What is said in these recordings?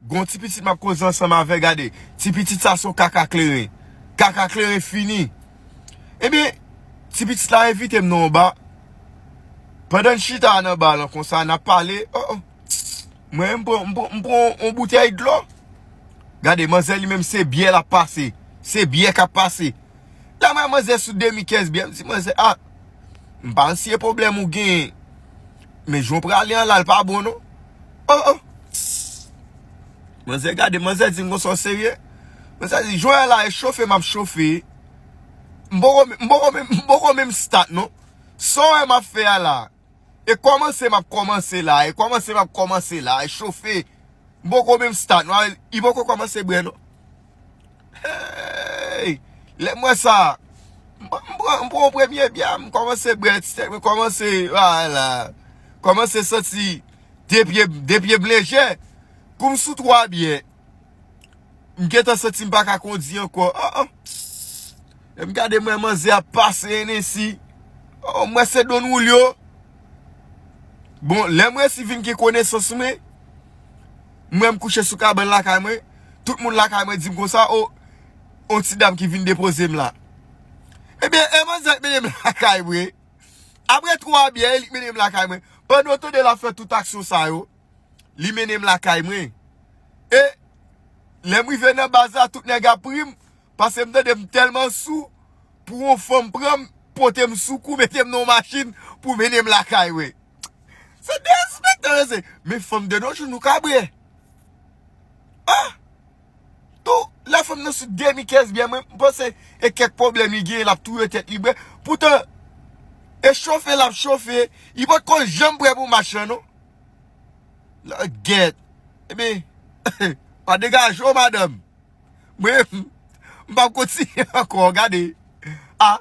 Gon ti pitit map koze ansanm avè gade ti pitit sa son kaka kleren kaka kleren fini ebyen ti pitit la envitem nan yon ba pandan n chita nan ba lan konsa nap pale oh oh mwen m pran m pran yon boutèy dlo gade manzè li menm se byè lap pase se byè kap pase la mwen manzè sou demi kès byè m di manzè ah m pa ansye pwoblèm ou genyen men jan w prale an la l pa bon non Oh oh Manzè gade manzè di m konsa w serye Manzè di jwè an la e chofe m ap chofe M poko m poko m poko menm start non Sa w wè m ap fè a la E kòmanse m ap kòmanse la e kòmanse m ap kòmanse la e chofe M poko menm start non Li poko kòmanse bre non Hey! Lè m wè sa, m pran yon premye bya, m kòmanse bwè ti tè, m kòmanse, a la, kòmanse santi de pye, de pye m lejè. Kou m sou 3 bye, m gen tan santi m pa ka kondi ankò. A a, lè m gade m wè manzè ap pase Hennessy, a a, m wè se Don Julio. Bon, lè m resi vin gen konesans mwen. M wè m kouche sou kabann lakay mwen, tout moun lakay mwen di m konsa, o, on ti dam ki vin depoze m la. Ebyen, e manzè a k mennen m lakay mwen. Aprè 3 byè, e li k mennen m lakay mwen. Pandan w tande l ap fè tout aksyon sa yo, li mennen m lakay mwen. E, lè m rive nan baz la, tout nèg ap ri m. Pase m tande m tèlman sou pou yon fanm pran m pote m sou kou mete m nan yon machin pou mennen m lakay mwen. Se derespektan yo se. Men fanm de nos jours nou kabre. Ah! Tou la fanm nan sou demi-kès byen mwen m panse e kèk pwoblèm li genyen l ap touye tèt li byen. Poutan e chofe l ap chofe li pa t ko janm pre pou match lan non. Langyèt. Ebyen pa degaje w madanm. Mwen menm m pap kontinye ankò gade ah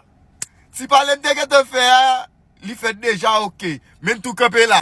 ti pale m te gentan fè a li fèt deja ok men m tou kanpe la.